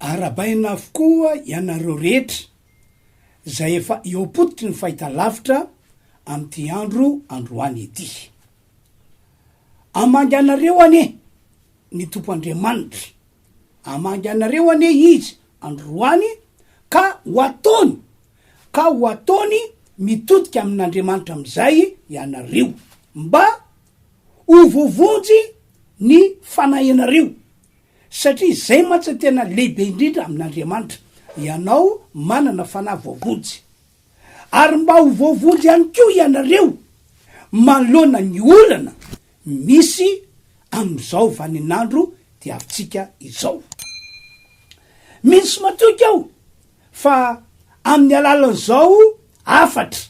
Arabaina avokoa ianareo rehetra izay efa eo am-pototry ny fahitalavitra amin'ity andro androany ity. Hamangy anareo anie ny Tompo Andriamanitra, hamangy anareo anie Izy androany ka ho ataony, ka ho ataony mitodika amin'Andriamanitra amin'izay ianareo, mba ho voavonjy ny fanahinareo. Satria izay mantsy tena lehibe indrindra amin'Andriamanitra, ianao manana fanahy voavonjy. Ary mba ho voavonjy ihany koa ianareo manoloana ny olana misy amin'izao vaninandro diavintsika izao. Mino sy matoky aho fa amin'ny alalan'izao hafatra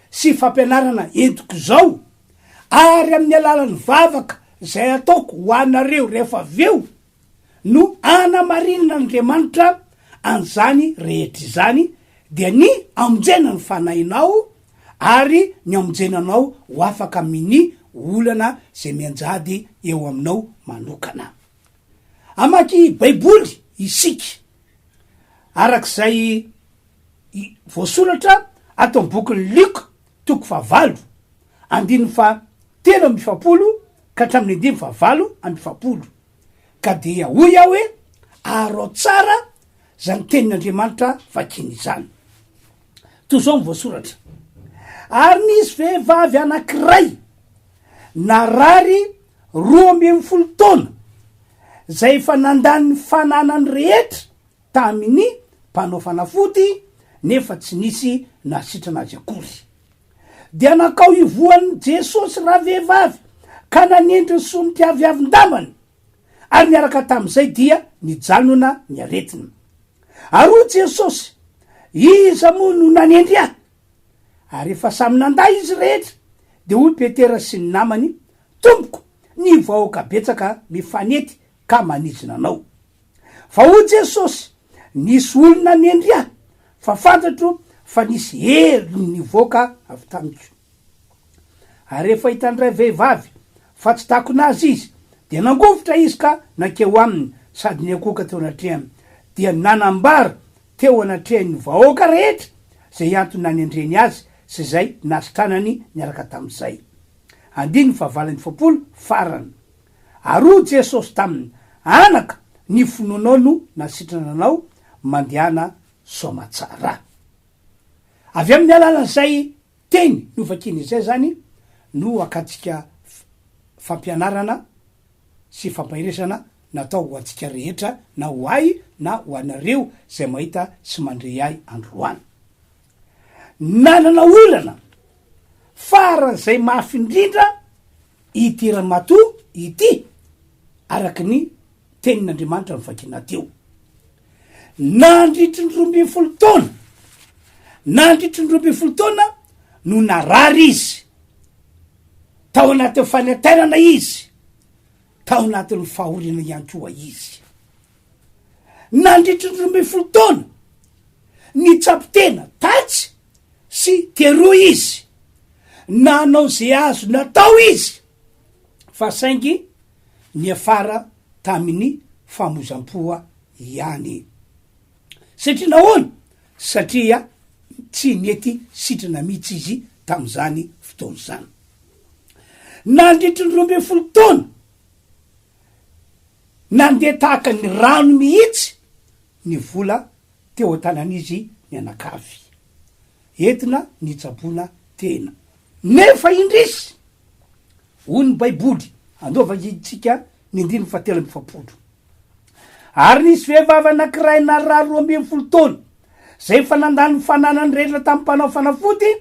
sy fampianarana entiko izao ary amin'ny alalan'ny vavaka izay ataoko ho anareo rehefa avy eo no anamarinin'Andriamanitra an'izany rehetra izany, dia ny amonjena ny fanahinao ary ny amonjena anao ho afaka amin'ny olana izay mianjady eo aminao manokana. Hamaky Baiboly isika araka izay voasoratra ato amin'ny bokin'i Lioka. toko fahavalo andininy faha telo amby efapolo ka hatramin'ny andininy faha valo amby efapolo, ka dia hoy aho hoe, Arao tsara izany tenin'Andriamanitra vakina izany. Toy izao no voasoratra, Ary nisy vehivavy anankiray narary roa ambin'ny folo taona, izay efa nandany ny fananany rehetra, tamin'ny mpanao fanafody nefa tsy nisy nahasitrana azy akory. Dia nankao hivohan'i Jesosy ravehivavy ka nanendry ny solika avy havin-dambany, ary niaraka tamin'izay dia nijanona ny aretina. Ary hoy Jesosy, Iza moa no nanendry Ahy? Ary rehefa samy nandà izy rehetra, dia hoy Petera sy ny namany, Tompoko, ny vahoaka betsaka mifanety ka manidina anao. Fa hoy Jesosy, Nisy olona nendry ahy, fa fantatro fa nisy hery nivoaka avy tamiko. Ary rehefa hitan'ny ray vehivavy fa tsy takona azy izy, dia nangovitra izy ka nankeo aminy sady niankohoka teo anatrehany, dia nanambara teo anatrehan'ny vahoaka rehetra izay antony nanendreny azy sy izay nasitranany niaraka tamin'izay. Andininy fahavalo amby efapolo, farany. Ary hoy Jesosy taminy, Anaka, ny finoanao no nasitrana anao, mandehana soamatsara. Avy amin'ny alalan'izay teny novakina izay izany no hakantsika fampianarana sy fampaheresana natao ho antsika rehetra na ho ahy na ho anareo izay mahita sy mandre ahy androany. Nanana olana faran'izay mafy indrindra Ity ramatoa ity, araka ny Tenin'Andriamanitra novakiana teo, nandritry ny roa ambin'ny folo taona, nandritry ny roa ambin'ny folo taona no narary izy, tao anatin'ny fanentanana izy, tao anatin'ny fahoriana ihany koa izy. Nandritry ny roa ambin'ny folo taona, nitsapy tena tatsy sy teroa izy, nanao izay azo natao izy, fa saingy niafara tamin'ny famoizam-poa ihany. Satria nahoana? Satria tsy nety sitrana mihitsy izy tamin'izany fotoana izany. Nandritry ny roa ambin'ny folo taona, nandeha tahaka ny rano mihitsy ny vola teo an-tanan'izy mianakavy, entina nitsaboana tena. Nefa indrisy, hoy ny Baiboly, Anova isika ny andininy fahatelo amby efapolo, Ary nisy vehivavy anankiray narary roa ambin'ny folo taona, izay efa nandany ny fananany rehetra tamin'ny mpanao fanafody,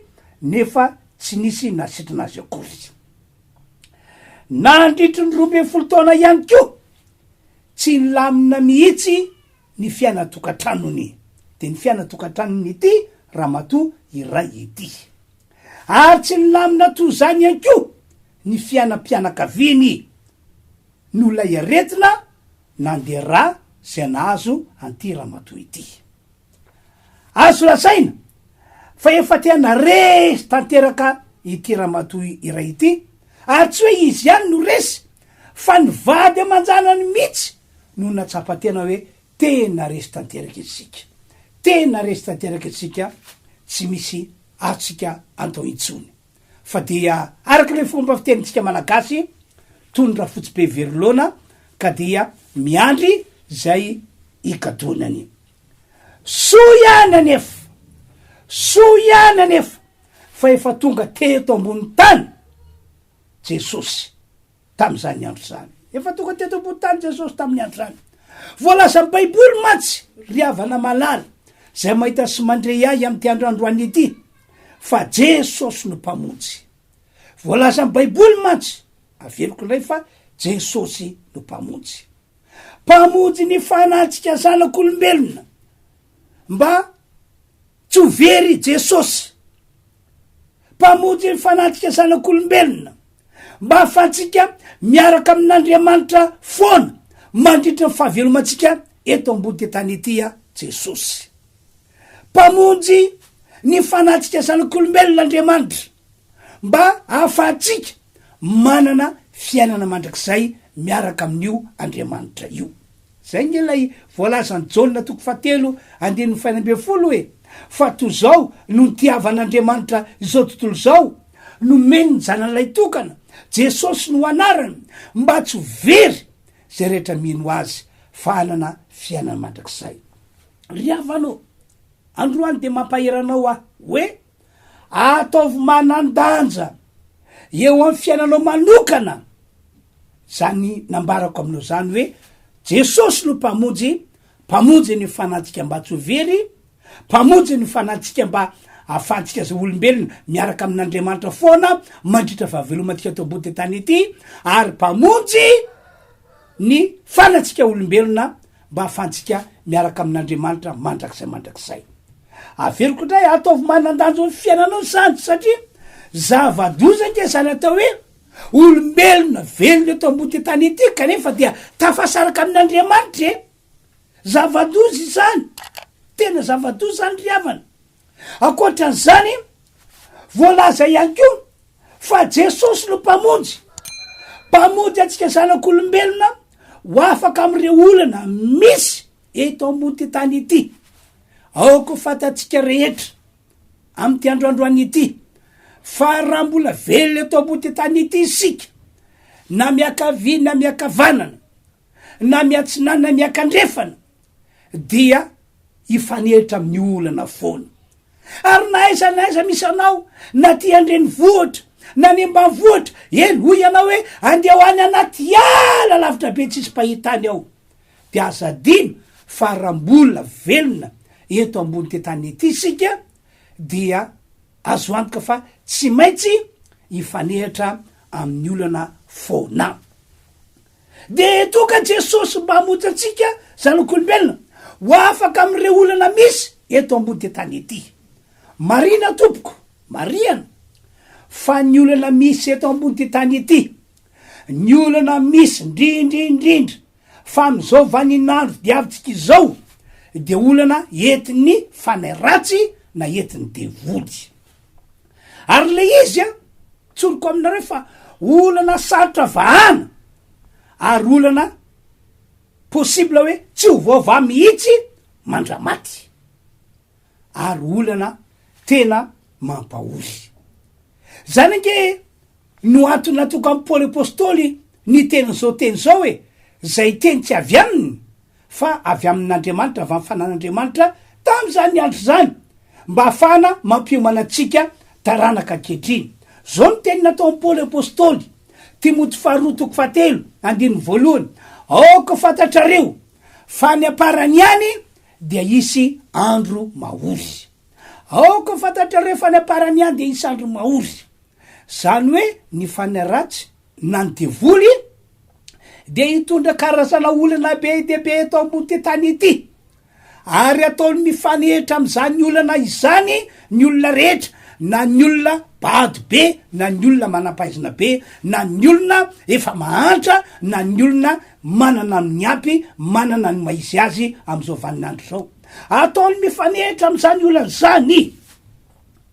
nefa tsy nisy nahasitrana azy akory izy. Nandritry ny roa ambin'ny folo taona ihany koa, Tsy nilamina mihitsy ny fiainan-tokantranony, dia ny fiainan-tokantranon'ity ramatoa iray ity. Ary tsy nilamina toy izany ihany koa ny fiainam-pianakaviany, noho ilay aretina nandera izay nahazo an'ity ramatoa ity. Azo lazaina fa efa tena resy tanteraka ity ramatoa iray ity ary tsy hoe izy ihany no resy fa ny vady aman-janany mihitsy no natsapa tena hoe tena resy tanteraka isika, tena resy tanteraka isika tsy misy azontsika atao intsony fa dia araka ilay fomba fitenintsika malagasy tony rafotsibe very laona ka dia miandry izay hikatonany. Soa ihany anefa, soa ihany anefa fa efa tonga teto ambony tany Jesosy tamin'izany andro izany. Efa tonga teto ambony tany Jesosy tamin'ny andro izany. Voalazan'ny Baiboly mantsy, ry havana malala, izay mahita sy mandre ahy amin'ity andro androany ity, fa Jesosy no Mpamonjy. Voalazan'ny Baiboly mantsy, averiko indray fa Jesosy no Mpamonjy. Mpamonjy ny fanahantsika zanak'olombelona mba tsy ho very i Jesosy. Mpamonjy ny fanahantsika zanak'olombelona mba hahafahantsika miaraka amin'Andriamanitra foana mandritra ny fahavelomantsika eto ambody tany ity aho Jesosy. Mpamonjy ny fanahantsika zanak'olombelona Andriamanitra. mba hahafahantsika manana fiainana mandrakizay miaraka amin'io Andriamanitra io. Izay ange ilay voalazan'i Jaona toko fahatelo andininy fahenina ambin'ny folo e! Fa toy izao no nitiavan'Andriamanitra izao tontolo izao, nomeny ny Zanany Lahy Tokana, Jesosy no anarany, mba tsy ho very izay rehetra mino Azy, fa hanana fiainana mandrakizay. Ry havana ô, androany dia mampahery anao aho hoe. Ataovy manan-danja eo amin'ny fiainanao manokana izany nambarako aminao izany hoe Jesosy no Mpamonjy, Mpamonjy ny fanantsika mba tsy ho very, Mpamonjy ny fanantsika mba ahafahantsika izay olombelona miaraka amin'Andriamanitra foana mandritra fahavelomantsika eto ambody tany ity, ary Mpamonjy ny fanantsika olombelona mba ahafahantsika miaraka amin'Andriamanitra mandrakizay mandrakizay. Averiko indray, ataovy manan-danjo ny fiainanao ny sahantsy satria zava-doza ange izany atao hoe olombelona velona eto ambody tany ity kanefa dia tafasaraka amin'Andriamanitra e! Zava-doza izany, tena zava-doza izany ry havana. Ankoatran'izany, voalaza ihany koa fa Jesosy no Mpamonjy, Mpamonjy antsika zanak'olombelona ho afaka amin'ireo olana misy Eto ambon'ity tany ity, aoka ho fantatsika rehetra amin'ity andro androany ity fa raha mbola velona eto ambon'ity tany ity isika, na miankavia na miankavanana, na miantsinana na miankandrefana, dia hifanehitra amin'ny olana foana. Ary na aiza na aiza misy anao, na aty an-drenivohitra, na any ambanivohitra, eny, hoy ianao hoe, andeha ho any anaty ala lavitra be tsisy mpahita any aho. Dia aza adino fa raha mbola velona eto ambonin'ity tany ity isika dia azo antoka fa tsy maintsy hifanehatra amin'ny olana foana. Dia eto ka Jesosy mba hamonjy antsika zanak'olombelona ho afaka amin'ireo olana misy eto ambonin'ity tany ity. Marina tompoko, marihana fa ny olana misy eto ambonin'ity tany ity Ny olana misy ndrindrindrindra fa amin'izao vanin'andro diavintsika izao dia olana entin'ny fanahy ratsy na entin'ny devoly. Ary ilay izy an, tsoriko aminareo fa olana sarotra vahana ary olana possible hoe tsy ho voavaha mihitsy mandramaty. ary olana tena mampahory. Izany ange no antony natokan'i Paoly Apostoly ny teny izao teny izao hoe, izay teny tsy avy aminy fa avy amin'Andriamanitra, avy amin'ny fanan'Andriamanitra tamin'izany andro izany, mba hahafahana mampiomana antsika taranaka ankehitriny. Izao ny teny nataon'i Paoly Apostoly, Timoty faharoa toko fahatelo andininy voalohany, Aoka ho fantatrareo fa ny amparany ihany dia hisy andro mahory. Aoka ho fantatrareo fa ny aparany ihany dia hisy andro mahory. Izany hoe ny fanahy ratsy na ny devoly dia hitondra karazana olana be dia be eto ambon'ity tany ity. Ary hataony mifanehitra amin'izany olana izany ny olona rehetra, na ny olona bado be na ny olona manam-pahaizana be, na ny olona efa mahantra na ny olona manana ny miampy, manana ny maha izy azy amin'izao vaninandro izao. Ataony mifanehitra amin'izany olana izany.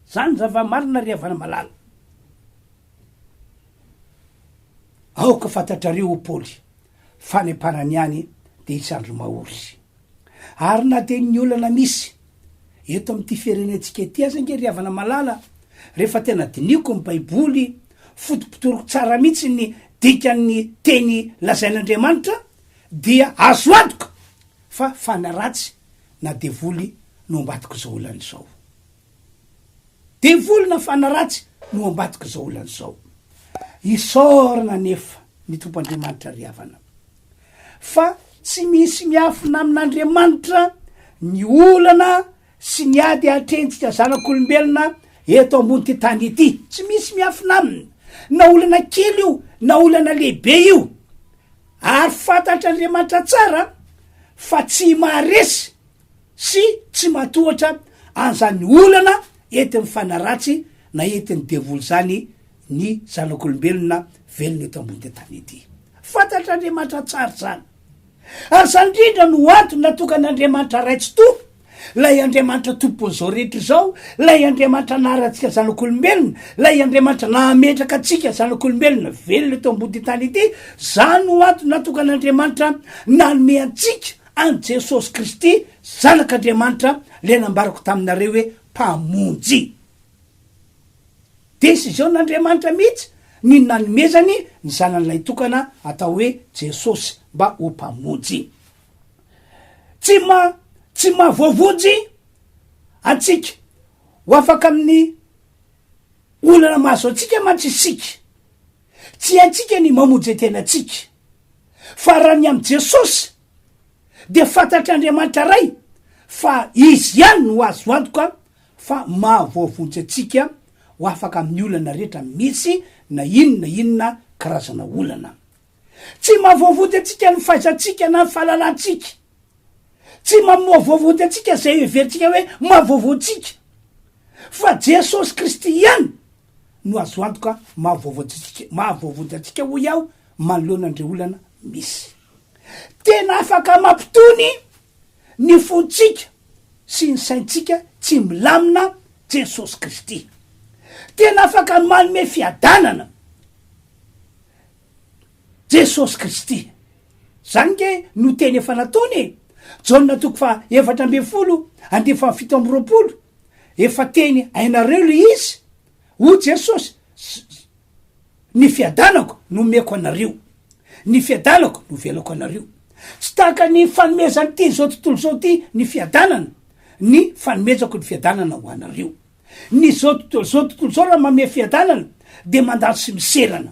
Izany zava-marina ry havana malala. Aoka fantatrareo hoy Paoly fa any am-parany any dia hisy andro mahory. Ary na dia ny olana misy Eto amin'ity firenentsika ity aza ange ry havana malala, rehefa tena dinihiko ny baiboly, fotopotoriko tsara mihitsy ny dikan'ny teny lazain'Andriamanitra dia azo antoka fa fana ratsy na devoly no ambadik'izao olana izao. Devoly na fana ratsy no ambadik'izao olana izao. Isaorana anefa ny Tompo Andriamanitra ry havana. fa tsy misy miafina amin'Andriamanitra ny olana sy ny ady atrehintsika zanak'olombelona eto ambon'ity tany ity. Tsy misy miafina aminy, na olana kely io na olana lehibe io. Ary fantatr'Andriamanitra tsara fa tsy maharesy sy tsy matohatra an'izany olana entin'ny fanaratsy na entin'ny devoly izany ny zanak'olombelona velona eto ambonin'ity tany ity. Fantatr'Andriamanitra tsara izany. Ary izany indrindra no antony natokan'Andriamanitra Ray tsy Tompo, ilay Andriamanitra Tompon'izao rehetra izao, ilay Andriamanitra naharantsika zanak'olombelona, ilay Andriamanitra nahametraka antsika zanak'olombelona velona eto ambonin'ity tany ity, izany no antony natokan'Andriamanitra nanome antsika An'i Jesosy Kristy, Zanak'Andriamanitra, ilay nambarako taminareo hoe Mpamonjy. Desiziôn'Andriamanitra mihitsy ny nanomezany ny Zanany Lahitokana atao hoe Jesosy mba ho Mpamonjy. Tsy maha, tsy maha voavonjy antsika, ho afaka amin'ny olana mahazo antsika mantsy isika. Tsy haintsika ny mamonje tena antsika. Fa raha ny amin'i Jesosy dia fantatr'Andriamanitra Ray fa Izy ihany no azo antoka fa mahavoavonjy antsika ho afaka amin'ny olana rehetra misy na inona na inona karazana olana. Tsy mahavoavonjy antsika ny fahaizantsika na ny fahalalantsika. Tsy mamoavoavonjy antsika izay heverintsika hoe mahavoavontsika. Fa Jesosy Kristy ihany no azo antoka maha-voavonjy antsika hoy aho manoloana an'ireo olana misy. Tena afaka mampitony ny fontsika sy ny saintsika tsy milamina Jesosy Kristy. Tena afaka manome fiadanana. Jesosy Kristy. Izany ange no teny efa nataony e! Jaona toko faha efatra ambin'ny folo andinin'ny faha fito amby roapolo, Efa teny hainareo ilay izy, hoy Jesosy, Ny fiadanako no omeko anareo, ny fiadanako no velako anareo. Tsy tahaka ny fanomezan'ity izao tontolo izao ity ny fiadanana, ny fanomezako ny fiadanana ho anareo. Ny zao tontolo zao tontolo zao raha mamehy fiadanana de mandalo sy miserana.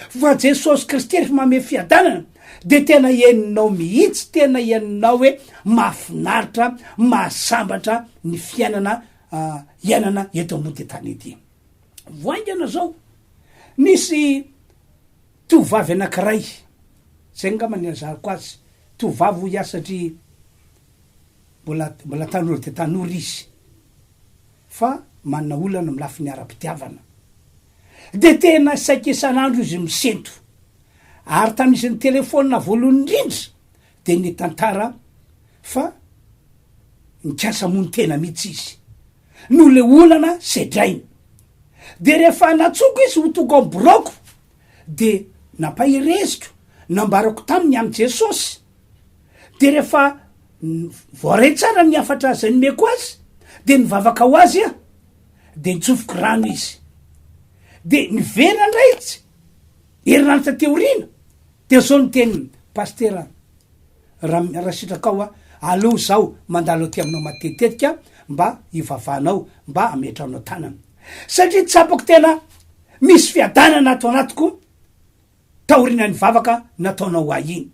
Fa Jesosy Kristy refa mamehy fiadanana de tena henonao mihitsy tena henonao hoe mahafinaritra mahasambatra ny fiainana hiainana eto ambony ty tany ety. Vao haingana zao nisy tovovavy anakiray zay ngamba ny nilazako azy tovovavy hoy aho satria Mbola mbola tanora dia tanora izy fa manana olana amin'ny lafiny ara-pitiavana. Dia tena saika isan'andro izy misento. Ary tamin'ny izy nitelefaonina voalohany indrindra dia nitantara fa nikasa hamono tena mihitsy izy noho ilay olana sedrainy. Dia rehefa natsoko izy ho tonga ao amin'ny biraoko dia nampahereziko nambarako taminy amin'i Jesosy Dia rehefa voaray tsara ny hafatra izay nomeko azy, dia nivavaka ho azy aho, dia nitsofoko rano izy. Dia niverina indray izy, herinaratra teo aoriana, dia izao no tenin'i Pasitera Ram- Rasitraka aho, Aleo izaho mandalo aty aminao matetitetika mba hivavahanao, mba hametrahanao tanana. Satria tsapako tena misy fiadanana ato anatiko. taorinany vavaka nataonao ho ahy iny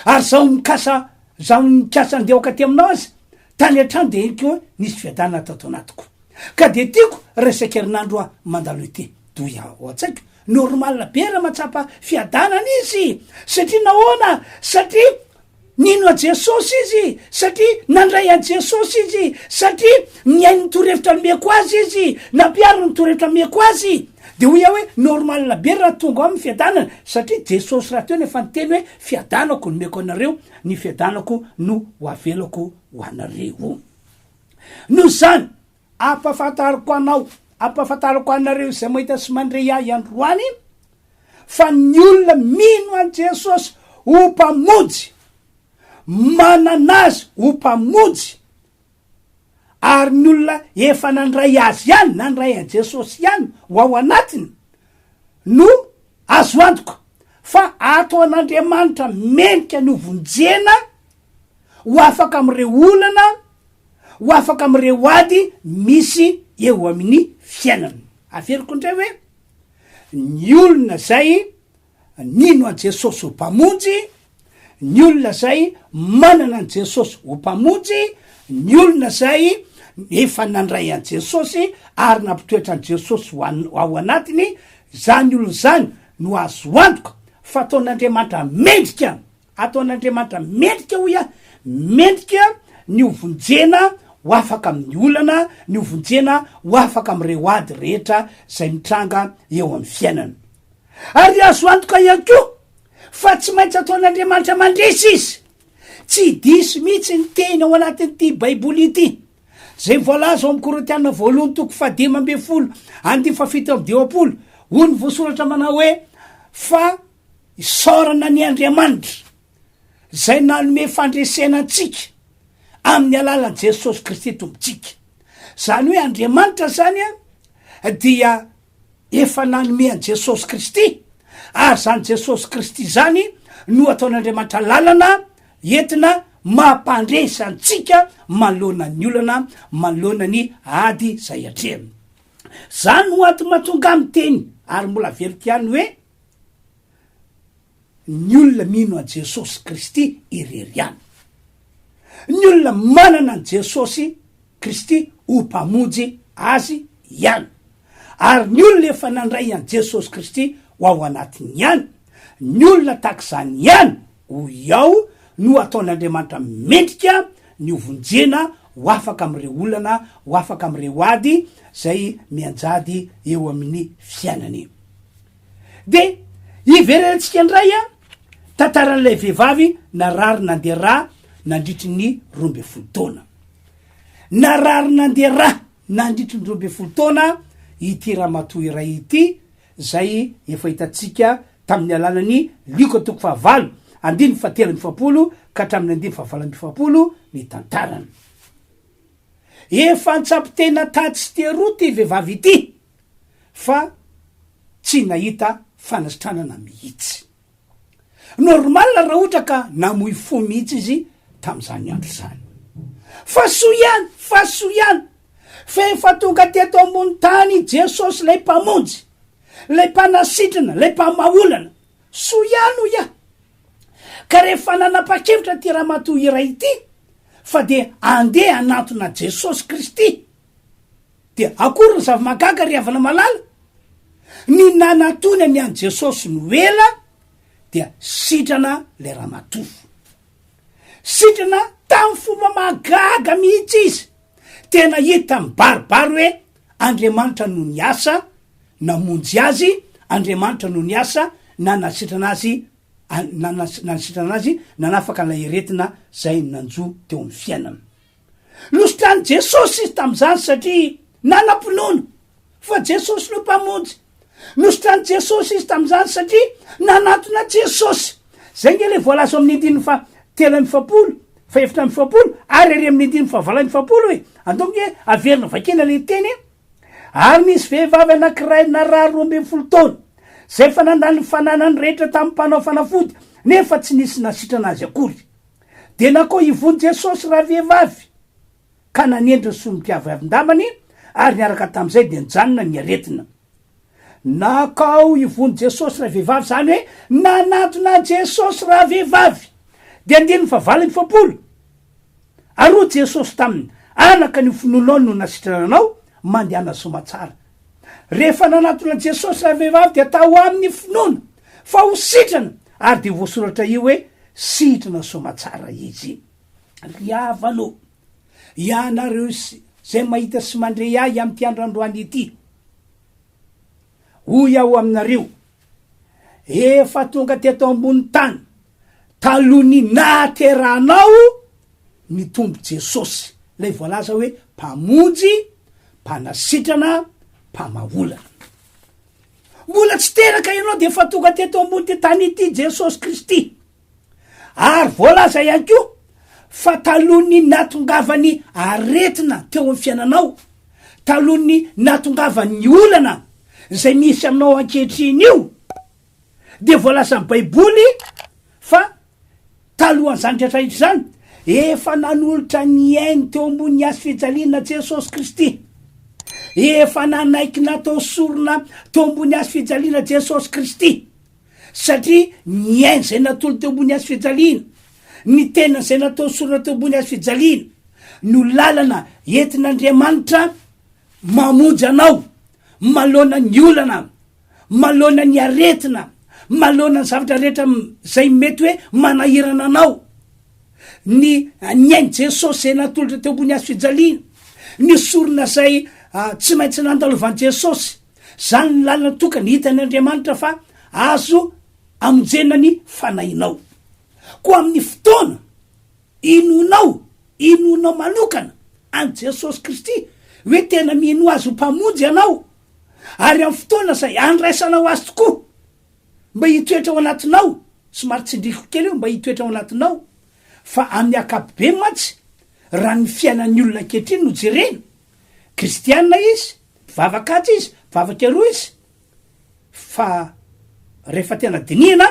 ary zaho mikasa zaho nikasa andeha aoka aty aminao aza tany hatrany dia henoko hoe nisy fiadanana tato anatiko ka dia tiako raha isan-kerinandro aho mandalo ety doy ao an-tsaiko normal be raha mahatsapa fiadanana izy satria nahoana satria Nino an'i Jesosy izy satria nandray an'i Jesosy izy, satria nihaino ny torohevitra nomeko azy izy, nampihariny ny torohevitra nomeko azy. Dia hoy aho hoe normal be raha tonga ao amin'ny fiadanana, satria Jesosy rahateo no efa niteny hoe fiadanako no omeko anareo, ny fiadanako no ho avelako ho anareo. Noho izany, Ampahafantariko anao, ampahafantarako anareo izay mahita sy mandre ahy androany, fa ny olona mino an'i Jesosy ho Mpamonjy, manana Azy ho Mpamonjy, ary ny olona efa nandray Azy ihany, nandray an'i Jesosy ihany ho ao anatiny, no azo antoka fa ataon'Andriamanitra mendrika ny hovonjena, ho afaka amin'ireo olana, ho afaka amin'ireo ady misy eo amin'ny fiainany. Averiko indray hoe, ny olona izay nino an'i Jesosy ho Mpamonjy, ny olona izay manana an'i Jesosy ho Mpamonjy, ny olona izay efa nandray an'i Jesosy ary nampitoetra an'i Jesosy ho an- ao anatiny, izany olona izany no azo antoka fa ataon'Andriamanitra mendrika Ataon'Andriamanitra mendrika, hoy aho, mendrika ny hovonjena ho afaka amin'ny olana, ny hovonjena ho afaka amin'ireo ady rehetra izay mitranga eo amin'ny fiainana. Ary azo antoka ihany koa fa tsy maintsy ataon'Andriamanitra mandresy Izy. Tsy diso mihitsy ny teny ao anatin'ity Baiboly ity, izay voalaza ao amin'ny Korintiana Voalohany toko fahadimy ambin'ny folo, andininy fahafito amby dimampolo. Hoy ny voasoratra manao hoe, Fa Isaorana an' Andriamanitra izay nanome fandresena antsika amin'ny alalan'i Jesosy Kristy Tompontsika. Izany hoe Andriamanitra izany dia efa nanome an'i Jesosy Kristy, ary izany Jesosy Kristy izany no ataon'Andriamanitra lalana entina mampandresy antsika manoloana ny olana, manoloana ny ady izay atrehina. Izany no antony mahatonga ahy miteny ary mbola veloko ihany hoe. Ny olona mino an'i Jesosy Kristy irery ihany. Ny olona manana an'i Jesosy Kristy ho Mpamonjy azy ihany, ary ny olona efa nandray an'i Jesosy Kristy ho ao anatiny ihany, ny olona tahaka izany ihany Hoy aho, no ataon'Andriamanitra mendrika ny hovonjena ho afaka amin'ireo olana, ho afaka amin'ireo ady izay mianjady eo amin'ny fiainany. Dia hiverenantsika indray tantaran'ilay vehivavy narary nandeha rà nandritry ny roa ambin'ny folo taona. Narary nandeha rà nandritry ny roa ambin'ny folo taona ity ramatoa iray ity, izay efa hitantsika tamin'ny alalan'ny lioka toko fahavalo andininy fahatelo amby efapolo ka hatramin'ny andininy fahavalo amby efapolo ny tantarany. Efa an-tsampy tena tatsy teroa ity vehivavy ity fa tsy nahita fanasitranana mihitsy. Normal raha ohatra ka namoy fo mihitsy izy tamin'izany andro izany. Fa soa ihany, fa soa ihany fa efa tonga teto ambony tany i Jesosy ilay Mpamonjy, ilay Mpanasitrana, ilay Mpamaha olana. Soa ihany hoy aho. Ka rehefa nanapa-kevitra ity ramatoa iray ity fa dia andeha hanantona Jesosy Kristy, Dia akory ny zava-mahagaga ry havana malala? Ny nanatony ny an'i Jesosy no ela dia sitrana ilay ramatoa. Sitrana tamin'ny fomba mahagaga mihitsy izy. Tena hita mibaribary hoe Andriamanitra no niasa namonjy azy, Andriamanitra no niasa nanasitrana azy, nanasitrana azy nanafaka ilay aretina izay nanjo teo amin'ny fiainany. Nositranin'i Jesosy izy tamin'izany satria nanam-pinoana fa Jesosy no Mpamonjy. Nositranin'i Jesosy izy tamin'izany satria nanatona Jesosy. Izay ange ilay voalaza ao amin'ny andininy fahatelo amby efapolo, fahefatra amby efapolo ary ery amin'ny andininy fahavalo amby efapolo e! Andao ange averina vakina ilay teny e! Ary nisy vehivavy anankiray narary roa ambin'ny folo taona, izay efa nandany ny fananany rehetra tamin'ny mpanao fanafody, nefa tsy nisy nasitrana azy akory. Dia nakao ivony Jesosy ravehivavy, ka nanendry ny somon'ny mpiaviavin-damany, ary niaraka tamin'izay dia nijanona ny aretina. Nakao ivony Jesosy ravehivavy, izany hoe nanatona an'i Jesosy ravehivavy. Dia andininy fahavalon'ny fampolo, Ary hoy Jesosy taminy, Anaka, ny finoanao no nasitrana anao, mandehana soamatsara. Rehefa nanatona an'i Jesosy ravehivavy dia tao aminy ny finoana. Fa ho sitrana, ary dia voasoratra io hoe, Sitrana soamatsara izy. Ry havana ô, ianareo izay mahita sy mandre ahy amin'ity andro androany ity, hoy aho aminareo, efa tonga teto ambony tany talohan'ny nahaterahanao ny Tompo Jesosy, ilay voalaza hoe Mpamonjy, Mpanasitrana, Mpamaholana. Mbola tsy teraka ianao dia efa tonga teto ambon'ity tany ity Jesosy Kristy. Ary voalaza ihany koa fa talohan'ny nahatongavan'ny aretina teo amin'ny fiainanao, talohan'ny nahatongavan'ny olana izay misy aminao ankehitriny io dia voalazan'ny Baiboly fa Talohan'izany rehetra rehetra izany, efa nanolotra ny ainy teo ambony ny hazofijaliana Jesosy Kristy. Efa nanaiky natao sorona teo ambony hazofijaliana Jesosy Kristy, satria ny ainy izay natolony teo ambony hazofijaliana, ny tenany izay natao sorona teo ambony hazofijaliana no lalana entin'Andriamanitra mamonjy anao manoloana ny olana. maloana ny aretina, maloana ny zavatra rehetra izay mety hoe manahirana anao, ny ny ain'i Jesosy izay natolotra teo ambony hazo fijaliana, ny sorona izay tsy maintsy nandalovan'i Jesosy, izany ny lalana tokana hitan'i Andriamanitra fa azo amonjena ny fanahinao. Koa amin'ny fotoana inoanao, inoanao manokana an'i Jesosy Kristy hoe tena mino Azy ho Mpamonjy ianao, ary amin'ny fotoana izay handraisanao azy tokoa mba hitoetra ao anatinao, somary tsindriko kely io, mba hitoetra ao anatinao, fa amin'ny ankapobeny mantsy raha ny fiainan'ny olona ankehitriny no jerena, kristiana izy, mpivavaka atsy izy, mpivavaka eroa izy, fa rehefa tena dinihina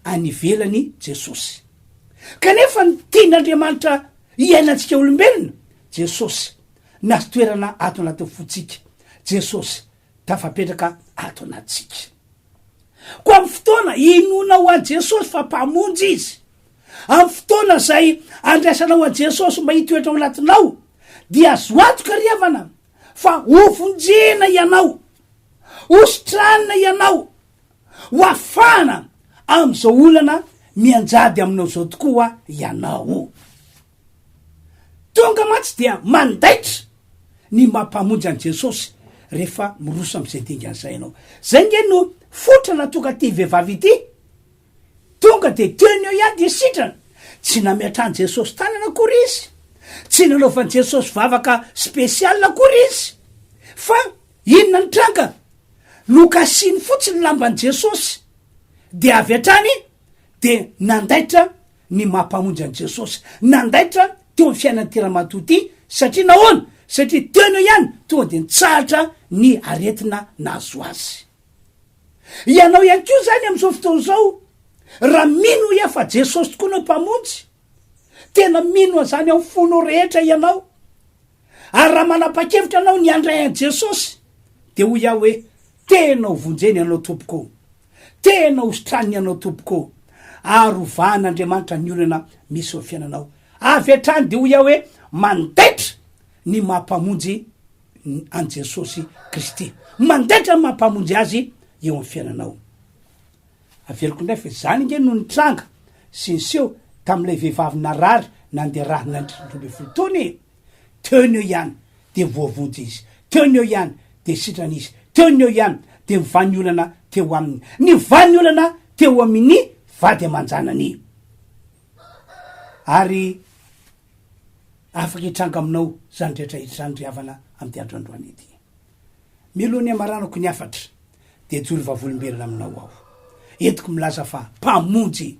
any ivelany i Jesosy. Kanefa ny tian'Andriamanitra hiainantsika olombelona, Jesosy, Nahazo toerana ato anatin'ny fontsika Jesosy, tafapetraka ato anatintsika. Koa amin'ny fotoana inoana ho an'i Jesosy fa Mpamonjy Izy, amin'ny fotoana izay andraisanao an'i Jesosy mba hitoetra ao anatinao, dia azo antoka ry havana fa hovonjena ianao, hositranina ianao, hoafahana amin'izao olana mianjady aminao izao tokoa ianao. Tonga mantsy dia mandaitra ny maha mpamonjy an'i Jesosy rehefa miroso amin'izay dingana izay ianao. Izay ange no fototra nahatongaity vehivavy ity. Tonga dia teo ny eo ihany dia sitrana. Tsy nametrahan'i Jesosy tanana akory izy. Tsy nanaovan'i Jesosy vavaka spécial akory izy. Fa inona ny tranga? Nokasiny fotsiny ny lamban'i Jesosy dia avy hatrany dia nandaitra ny maha Mpamonjy an'i Jesosy nandaitra teo amin'ny fiainan'ity ramatoa ity, satria nahoana? Satria teo aloha ihany tonga dia nitsahatra ny aretina nahazo azy. Ianao ihany koa izany amin'izao fotoana izao, raha mino iha fa Jesosy tokoa no Mpamonjy, tena mino an'izany amin'ny fonao rehetra ianao, Ary raha manapa-kevitra ianao ny handray an'i Jesosy, dia hoy aho hoe, Tena ho vonjeny ianao Tompoko ô! Tena ho sitraniny ianao Tompoko ô! Ary hovahan'Andriamanitra ny olana misy eo amin'ny fiainanao. Avy hatrany dia hoy aho hoe, Mandaitra ny maha Mpamonjy an'i Jesosy Kristy. Mandaitra ny maha Mpamonjy Azy eo amin'ny fiainanao. Averiko indray fa izany ange no nitranga sy niseho tamin'ilay vehivavy narary nandeha rarinandry roa ambin'ny folo taona e! Teo ny eo ihany dia voavonjy izy, teo ny eo ihany dia sitrana izy, teo ny eo ihany dia mivan'ny olana teo aminy, nivan'ny olana teo amin'i vady aman-janany. Ary afaka hitranga aminao izany rehetra izany ry havana amin'ity andro androany ity. Melo ny hamaranako ny hafatra dia hijoro vavolomberana aminao aho. Entiko milaza fa Mpamonjy,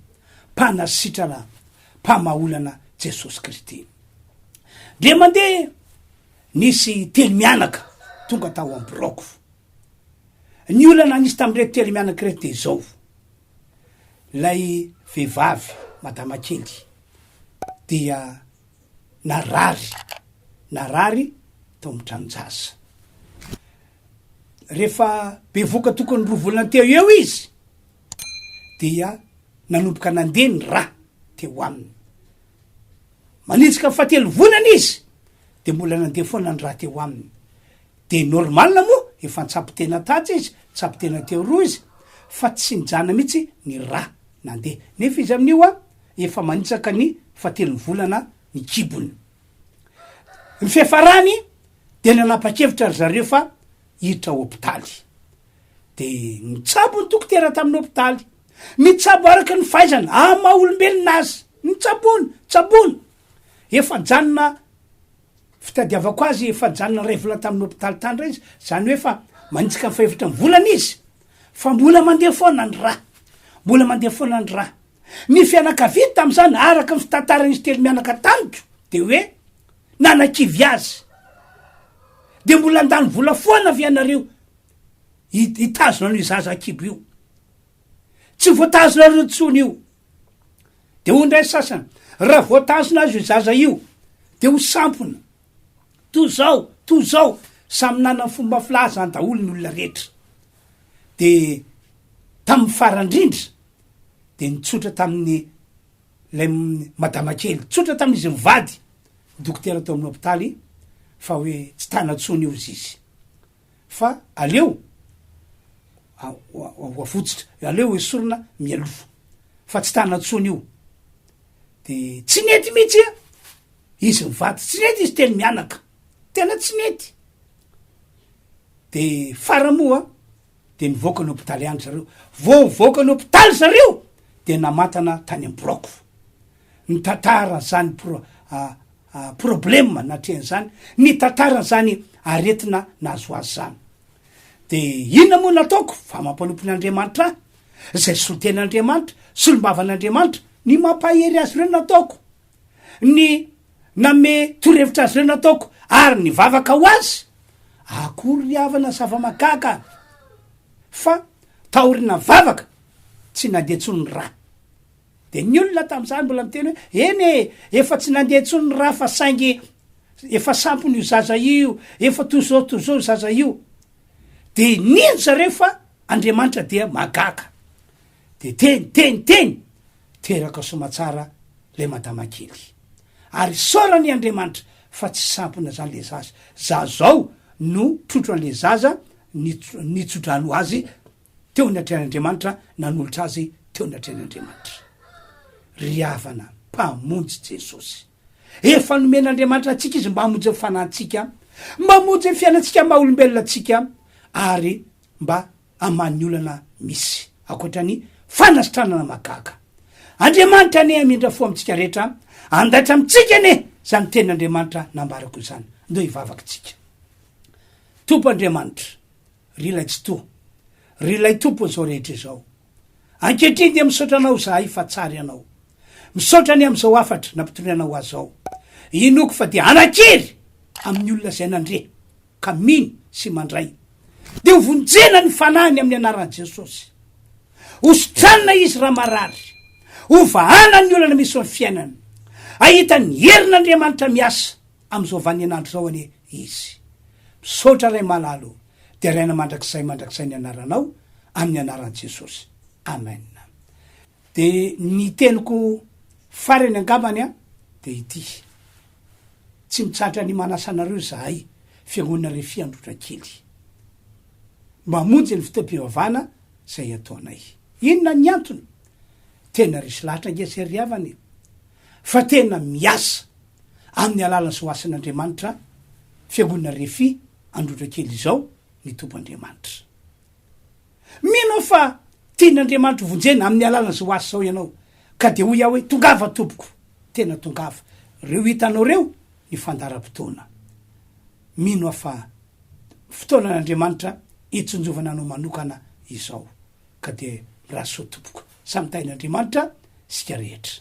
Mpanasitrana, Mpamaha olana Jesosy Kristy. Ndre mandeha nisy telo mianaka tonga tao amin'ny biraoko. Ny olana nisy tamin'ireto telo mianaka ireto dia izao. Ilay vehivavy, madama kely, dia narary, narary tao amin'ny tranon-jaza. Rehefa bevoka tokony roa volana teo ho eo izy dia nanomboka nandeha ny rà teo aminy. Manitsika ny fahatelo volana izy dia mbola nandeha foana ny rà teo aminy. Dia normal moa, efa nitsabo tena tatsy izy, nitsabo tena teo roa izy fa tsy nijana mihitsy ny rà nandeha. Nefa izy amin'io an! Efa manitsaka ny fahatelon'ny volana ny kibony. Ny fiafarany dia nanapa-kevitra ry zareo fa hiditra hopitaly. Dia nitsabo ny dokotera tamin'ny hopitaly. Mitsabo araka ny fahaizana, amin'ny maha olombelona azy. Nitsaboana, tsaboina. Efa nijanona fitadiavako azy, efa nijanona iray volana tamin'ny hopitaly tany indray izy. Izany hoe efa manitsaka ny fahefatra ny volana izy. Fa mbola mandeha foana ny ra. Mbola mandeha foana ny ra. Ny fianakavia tamin'izany, araka ny fitantaran'izy telo mianaka tamiko, dia hoe nanakivy azy. Dia mbola handany vola foana ve ianareo hitazona an'io zaza akibo io? Tsy voatazonareo intsony io. Dia hoy indray sasany, raha voatazona azy io zaza io, dia ho sampona. Toa izao, toa izao, samy nanana ny fomba filazany daholo ny olona rehetra. Dia tamin'ny farany indrindra, dia nitsotra tamin'ny ilay madama kely, nitsotra tamin'izy mivady dokotera tao amin'ny hopitaly fa hoe tsy tana intsony io izy izy fa aleo hoavotsitra, aleo ho esorina mialoha fa tsy tana intsony io de tsy nety mihitsy a izy mivady tsy nety izy telo mianaka tena tsy nety de fara moa dia nivoaka ny hopitaly ihany zareo. Vao nivoaka ny hopitaly zareo dia namantana tany amin'ny biraoko. Nitantara an'izany pro, a, a, problema natrehan'izany, nitantara an'izany aretina nahazo azy izany. Dia inona moa nataoko? Fa mampanompo an'Andriamanitra ahy, izay solontenan'Andriamanitra, solombavan'Andriamanitra, ny mampahery azy ireo nataoko. ny nanome torohevitra azy ireo nataoko ary nivavaka ho azy, akory ry havana zava-mahagaga fa taoriana vavaka tsy nandeha intsony ny rà. Dia ny olona tamin'izany mbola miteny hoe eny e, efa tsy nandeha intsony ny rà fa saingy efa sampona io zaza io, efa toy izao toy izao io zaza io. Dia nino zareo fa Andriamanitra dia mahagaga. Dia teny, teny, teny! Teraka soamatsara ilay madama kely. Ary isaorany i Andriamanitra fa tsy sampona izany ilay zaza. Za zao no trotro an'ilay zaza nitso-drano azy teo ny atrehan'Andriamanitra, nanolotra azy teo ny atrehan'Andriamanitra. Ry havana, Mpamonjy Jesosy. Efa nomen'Andriamanitra antsika Izy mba hamonjy ny fanantsika, mba hamonjy ny fiainantsika maha olombelona antsika, ary mba aman'ny olana misy, ankoatra ny fanasitranana mahagaga. Andriamanitra anie hamindra fo amintsika rehetra, handaitra amintsika anie izany tenin'Andriamanitra nambarako izany. Ndao hivavaka isika. Tompo Andriamanitra, ry Ilay Tsitoha, ry Ilay Tompon'izao rehetra izao. Ankehitriny dia misaotra Anao izahay fa tsara Ianao. Misaotra anie amin'izao hafatra nampitorianao ahy izao. Inoako fa dia hanan-kery amin'ny olona izay nandre. ka mino sy mandray, dia hovonjena ny fanahiny amin'ny anaran'i Jesosy. Hositranina izy raha marary. Hovahana ny olana misy ao amin'ny fiainany. Hahita ny herin'Andriamanitra miasa amin'izao vanin'andro izao anie izy. Misaotra Ray malala o. Deraina mandrakizay mandrakizay ny anaranao, amin'ny anaran'i Jesosy. Amen. De ny teniko farany angambany an de ity, tsy mitsahatra ny manasa anareo zahay fiangonana Refi Androtrakely mba hamonjy ny fotoam-pivavahana zay ataonay. Inona ny antony? Tena resy lahatra ange zay ry havana e! Fa tena miasa amin'ny alalan'ny zoasin'Andriamanitra fiangonana Refi Androtrakely izao ny Tompo Andriamanitra. Mino aho fa tian'Andriamanitra ho vonjena amin'ny alalan'izao asa izao ianao, ka dia hoy aho hoe, Tongava tompoko! Tena tongava! Ireo hitanao ireo ny fandaharam-potoana. Mino aho fa fotoanan'Andriamanitra hitsinjovana anao manokana izao, ka dia mirary soa tompoko. Samy tahin'Andriamanitra isika rehetra.